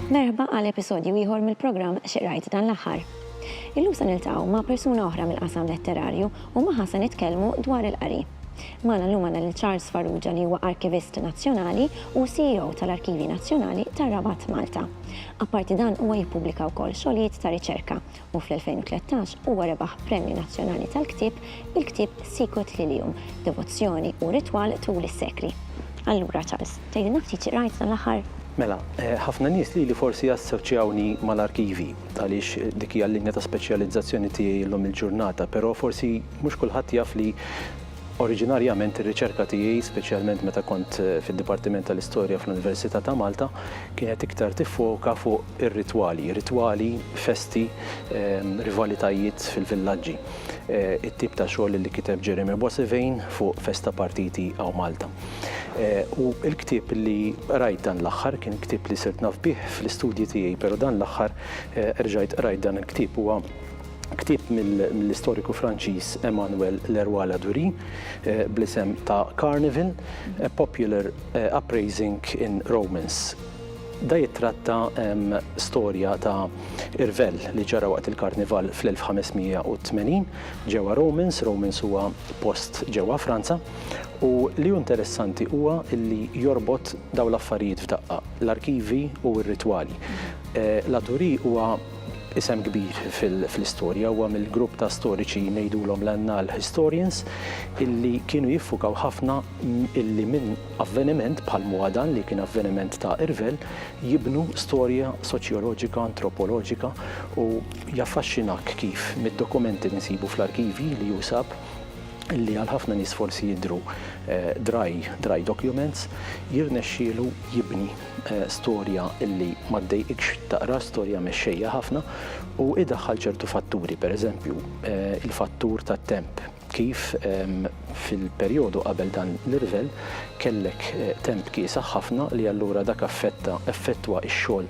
Merħba għal episodju ieħor mill-programm Xi Rajt dan l-aħħar. Illum se niltaqgħu ma' persuna oħra mill-qasam letterarju u magħha se nitkellmu dwar il-qari. Magħna llum għandna lil Charles Farrugia li huwa Arkivist Nazzjonali u CEO tal-Arkivji Nazzjonali tar-Rabat Malta. Apparti dan huwa jippubblika wkoll xogħlijiet ta' riċerka u fl-2013 huwa rebaħ Premju Nazzjonali tal-Ktieb bil-ktieb Sicut Lilium, Devozzjoni u Ritwal Tul is-Sekli. Allura Charles, tgħidilna ftit xi qrajt dan l-aħħar? Mela, ħafna nies lili forsi jassoċjawni mal-arkivi għaliex dik hija l-linja ta' speċjalizzazzjoni tiegħi llum il-ġurnata, però forsi mhux kulħadd jaf li, Oriġinarjament ir-riċerka tiegħi, speċjalment meta kont fid-Dipartiment tal-Istorja fl-Università ta' Malta, kienet iktar tiffoka fuq ir-ritwali, ritwali, festi, rivalitajiet fil-villaġġi, it-tip ta' xogħol li kiteb Jeremy Boissevain fuq Festa Partiti Aw Malta. U l-ktieb li qrajt dan l-aħħar, kien ktieb li sirt naf bih fl-istudji tiegħi, pero' dan l-aħħar erġajt qrajt dan il-ktieb, huwa, ktieb mill-istoriku Franċiż Emmanuel Leroy Ladurie bl-isem ta' Carnival, A Popular Uprising in Romance. Da jittratta storja ta' irvell li ġara waqt il-Karnival fl-1580 ġewwa Romans, Romans huwa post ġewwa Franza, u li hu interessanti huwa li jorbot dawn l-affarijiet f'daqqa, l-arkivi u r-ritwali. Ladurie huwa Isem kbir fl-istorja huwa mill-grupp ta' storiċi ngħidulhom l-annal historians illi kienu jiffukaw ħafna illi minn avveniment bħal m'huwa dan li kien avveniment ta' irvell jibnu storja soċjoloġika, antropoloġika u jaffaxxinak kif mid-dokumenti li nsibu fl-arkivji li usab illi għal ħafna nies forsi jidhru dry dry documents jirnexxielu jibni storja illi ma ddejqikx taqra, storja mexxejja ħafna, u idaħħal ċertu fatturi, pereżempju, il-fattur tat-temp, kif fil-perjodu qabel dan l-irvell kellek temp kiesaħ ħafna li allura dak affetta, effettwa x-xogħol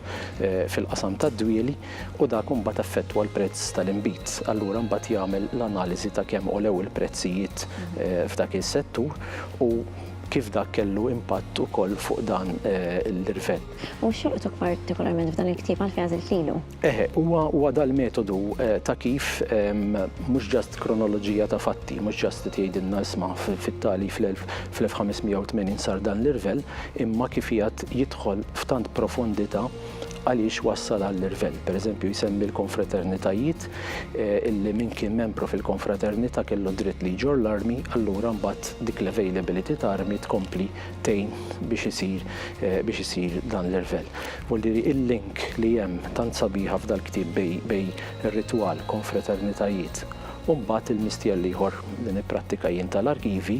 fil-qasam tad-dwieli u dak imbagħad affettwa l-prezz tal-inbid. Allura mbagħad jagħmel l-analiżi ta' kemm għolew il-prezzijiet f'dak is-settur u, kif dak kellu impatt ukoll fuq dan l-irvell. U x'jolqtok partikolarment f'dan il-ktieb għalfejn għażilt lilu? Eħe, huwa dal-metodu ta' kif mhux ġast kronoloġija ta' fatti, mhux ġast qed jgħidilna isma' fit-tali fl-1580 sar dan l-irvell, imma kif qiegħed jidħol f'tant profondità għaliex wassal għall-irvell. Pereżempju jsemmi l-konfraternitajiet illi min kien membru fil-konfraternità kellu d-dritt li jġorr l-armi, allura mbagħad dik l-availability ta' armi tkompli tgħin biex isir biex isir dan l-irvell. Volli il-link li hemm tant sabiħa f'dal-ktieb bej bej ir-ritwal, konfraternitajiet, u mbagħad il-mistjell l-ieħor li nipprattika jien tal-arkivi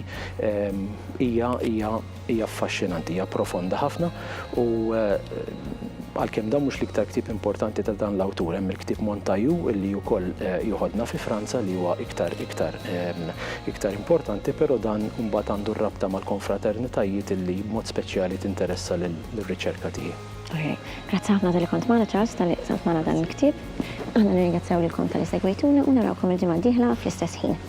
hija hija Hija affaxxinanti, hija profonda ħafna u għalkemm dan mhux l-iktar ktieb importanti ta' dan l-awtur, hemm il-ktieb Montaillou li wkoll joħodna fi Franza li huwa iktar iktar iktar importanti, però dan imbagħad għandu r-rabta mal-konfraternitajiet li b'mod speċjali tinteressa lir-riċerka tiegħi. Okej. Grazzi ħafna talli kont magħna Charles, talli qsamt magħna dan il-ktieb. Aħna nirringrazzjaw lilkom talli segwejtuna u narawkom il-ġimgħa d-dieħla fl-istess ħin.